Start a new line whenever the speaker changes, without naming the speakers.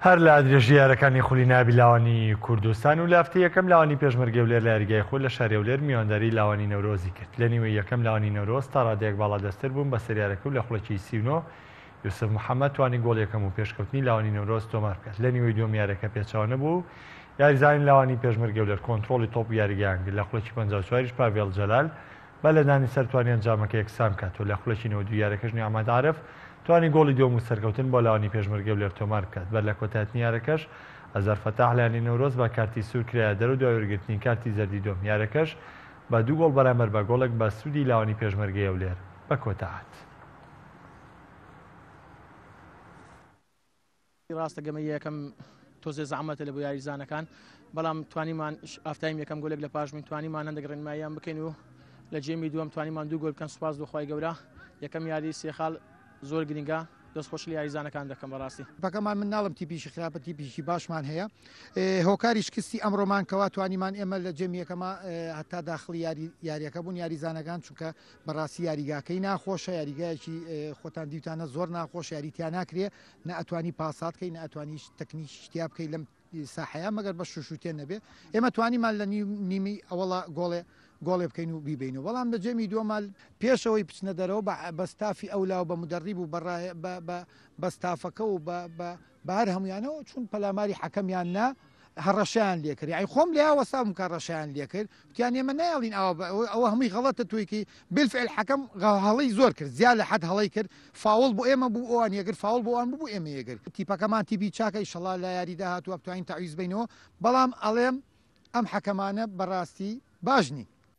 هەر لە درێژەی یارەکانی خولی نایابی لاوانی کوردستان و لە هەفتەی یەکەم لاوانی پێشمەرگەی هەولێر لە یاریگای خۆی لە شاری هەولێر میوانداریی لاوانی نەورۆزی کرد، لە نیوەی یەکەم لاوانی نەورۆز تا رادەیەک باڵادەستتر بوون بەسەر یارەکە و لە خوڵەکی سی و نۆ یوسف محەمەد توانی گۆڵ یەکەم و پێشکەوتنی لاوانی نەورۆز تۆمار بکات، لە نیوەی دووەم یارەکە پێچەوە نەبوو و یاریزانانی لاوانی پێشمەرگەی هەولێر کۆنتڕۆڵی تۆپ و یاریگایان کرد، لە خوڵەکی پەنجا و چواریش پاڤێڵ جەلال با لەدانی سەر توانی ئەنجامەکە یەکسان بکات و لە خولەکی نەوەد و یارەکەش نیعمەت عارف توانی گۆڵی دووەم و سەرکەوتن بۆ لاوانی پێشمەرگەی هەولێر تۆمار بکات بەر لە کۆتایهتنی یارەکەش ئەزەر فەتاح لە یانەی نەورۆز بە کارتی سوور کرایە دەرو دوای وەرگرتنی کارتی زەردی دووەم یارەکەش بە دوو گۆڵ بەرامبەر بە گۆڵێک بە سوودی لاوانی پێشمەرگەی هەولێر بە کۆتاهات.
ڕاستە گەمە یەکەم تۆزێ زەحمەتە لە بۆ یاریزانەکان بەڵام توانیمان ئافتایم یەکەم گۆلێک لە پاش من توانیمان هەندێک ڕێنماییان بکەین و لە جێمی دووەم توانیمان دوو گۆل بکەن سوپاس بۆخوای گەورە یەکەم یاری سێخاڵ زۆر گرنگە دەست خۆش لە یاریزانەکان دەکەم بەڕاستی پەکەمان من ناڵم
تیپیشی خراپە تیپیشی باشمان هەیە هۆکاری شکستی ئەمڕۆمان کەوا توانیمان ئێمە لە جێمیەکەمە هەتا داخلی یاری یاریەکە بوون یاریزانەکان چونکە بەڕاستی یاریگاکەی ناخۆشە یاریگایەکی خۆتان دیوتانە زۆر ناخۆش یاری تیا ناکرێ نە ئەتوانی پاسات کەی نە ئەتوانیش تەکنیکی شتیا بکەی لەم ساحەیە مەگەر بە شوشوتێن نەبێ ئێمە توانیمان لە نیمی ئەوڵا گۆڵێ گۆڵێ بکەین و بیبین و بەڵام لە جێمی دووەمال پێشەوەی بچنە دەرەوە بە بەستافی ئەولا و بە مدەڕیب و بە بەستافەکە و بە بەهەر هەمویانەوە چون پەلاماری حەکەمیان نا هەڕەشەیان لێکرد یاعی خۆم لیا وەسام کە ڕەشیان لێکرد وتیان ئێمە نایڵین ئەوە ئەوە هەمووی غەڵەتە تویکی بلفعل حەکەم هەڵی زۆر کرد زیا لە حد هەڵی کرد فاول بۆ ئێمە بوو ئەوان یەگر فاول بۆوان بوو ئێمە یەگر تیپەکەمان تیبی چاکە ئیشەڵا لە یاریدا هاتووە بتوانین تاویز بینەوە بەڵام ئەڵێم ئەم حەکەمانە بەڕاستی باش نین